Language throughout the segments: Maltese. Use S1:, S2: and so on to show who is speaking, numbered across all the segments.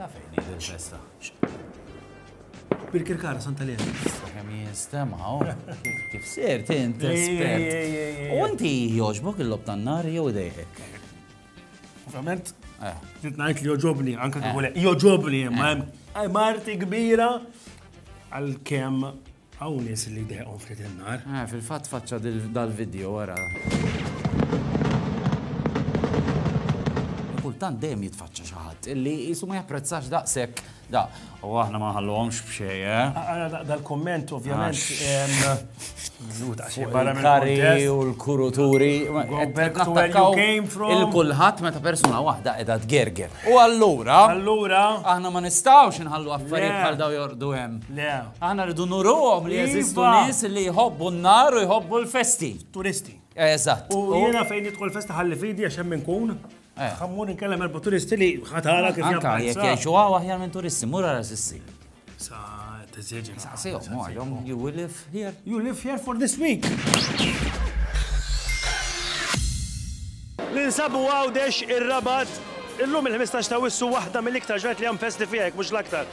S1: Naf fejn hi din festa.
S2: Birkirkara Santa Lena. Kemm jinstemaw,
S1: kif ser tint espert. U inti jogħġbok il-lob tan-nar jew idejħek?
S2: Ovvjament, trid ngħid li joġobni, anke kif joġobni, ma hemm marti kbira għal kemm Hawn nies li deqhom ftit in-nar. Eh, fil-fatt faċċa
S1: dal-video wara. Kultant dejjem jitfaċċa xi ħadd illi jisu ma japprezzax daqshekk da. U aħna ma ħallhomx b'xej, eh? Ara dal-komment
S2: ovvjament
S1: Kari u l-kuruturi. Il-kulħadd meta persuna waħda qiegħda tgerger. U allura. Allura. Aħna ma nistgħux inħallu affarijiet bħal daw jordu hemm. Aħna rridu nuruhom li jeżistu nies li jħobbu n-nar u jħobbu l-festi. Turisti.
S2: Eżatt. U
S1: jiena fejn nidħol
S2: festa ħalli fidi għax hemm inkun. Eh. Ħammur inkellem erba' turisti li ħatara kif jabqa' jekk jgħixu għaw
S1: aħjar minn turisti, mur għara sissi. Sa
S2: tiżieġi. Sa sejhom, għalhom,
S1: you will live here. You live here for this
S2: week. Ninsabu għawdex ir-rabat Illum il-15 ta' wissu waħda mill-iktar ġrat li hemm festi fihek mhux l-aktar.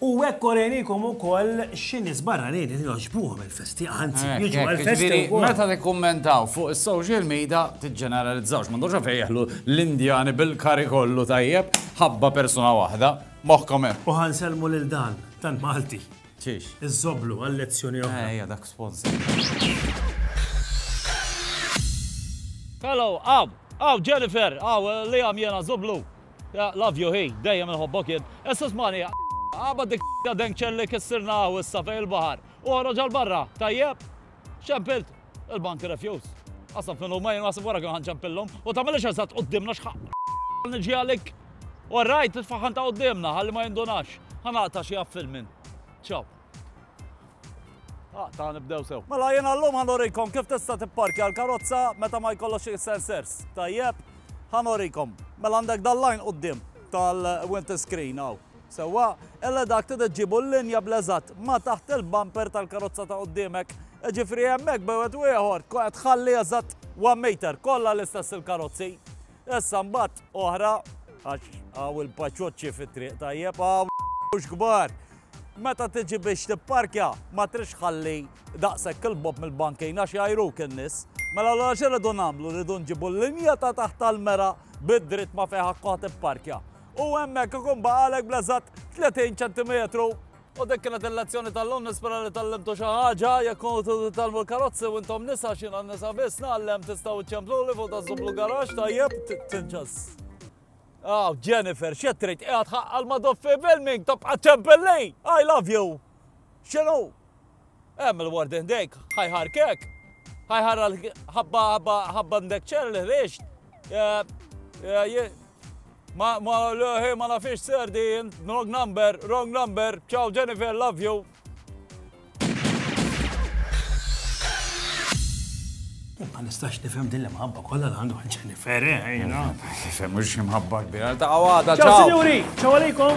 S2: U hekk orejnikom ukoll xi nies barranin li jogħġbuhom il-festi, anzi jiġu għall-festi wkoll. Meta tikkummentaw
S1: fuq is-social media tiġġeneralizzawx, m'għandhomx għalfejn jeħlu l-Indjani bil-curry kollu tajjeb ħabba persuna waħda, moħħkom hemm. U ħa nsellmu lil dan,
S2: tant Malti. Xiex? Iż-żoblu
S1: għal lezzjoni
S2: oħra. Ejja dak sponsor.
S3: Hello, hawn, hawn Jennifer, hawn Liam jiena żoblu. Yeah, love you hi, dejjem inħobbok jien. Issa smani, aqbad dik ta' denkċel li kissirna hawn issa fejn il-baħar. U ħroġ għal barra, tajjeb? Xempilt? Il-bank refjus. Qasam fin huma jien għasib wara kien ħanċempillhom u tagħmilx eżatt qudiemna x'ħaq. Niġi għalik. All right, tfaħħan ta' qudiemna ħalli ma jindunax. Ħanaqta xi għaffil minn. Ciao. Ah, ta' nibdew sew. Mela jien għallum ħanorikom kif tista' tipparkja l-karozza meta ma jkollokx il-sensors. Tajjeb, ħanorikom. Mela għandek dal-lajn qudiem tal-winter screen hawn. Sewwa, illa dak trid ġibu l-linja bleżat ma taħt il-bumper tal-karozza ta' qudiemek. Ġifri hemmhekk bewet u ieħor tħalli eżatt 1 meter kollha l-istess il-karozzi. Issa mbagħad oħra għax hawn il-paċoċċi fit-triq tajjeb hawn kbar. Meta tiġi biex tipparkja ma tridx tħalli daqshekk 'il bogħod mill-bankin għax jgħajruk in-nies. Mela allura x'irridu nagħmlu? Rridu nġibu l-linja ta' taħt tal-mera bid-dritt ma fejn ħakkuha tipparkja. U hemmhekk ikun baqgħalek bl-eżatt 30 ċentimetru. U dik kienet il-lezzjoni tal-lum nispera li tallimtu xi ħaġa, jekk kont titgħallmu l-karozzi u intom nisa x'jiena nisa biss nagħallem tistgħu ċċempluli fuq daż-żublu garax tajjeb tinċas. Aw, Jennifer, x'qed trid? Qiegħed ħaqqal ma' Doff Filming, tibqa' ċempel lei! I love you! X'inhu? Hemm il-ward ħdejk, ħajħarkek. Ħajħarra ħabba ħabba ħabba ndek ċer li ħriġt. Ma ma ma nafix serdin, wrong number, wrong number, ciao Jennifer, love you.
S2: Ma nistax nifhem din l-imħabba kollha li għandu Jennifer, eh, jina.
S1: Nifhem mhux
S2: imħabba
S1: kbira
S2: ta'
S1: għada. Ċaw,
S2: sinjuri,
S1: ċaw
S2: għalikom.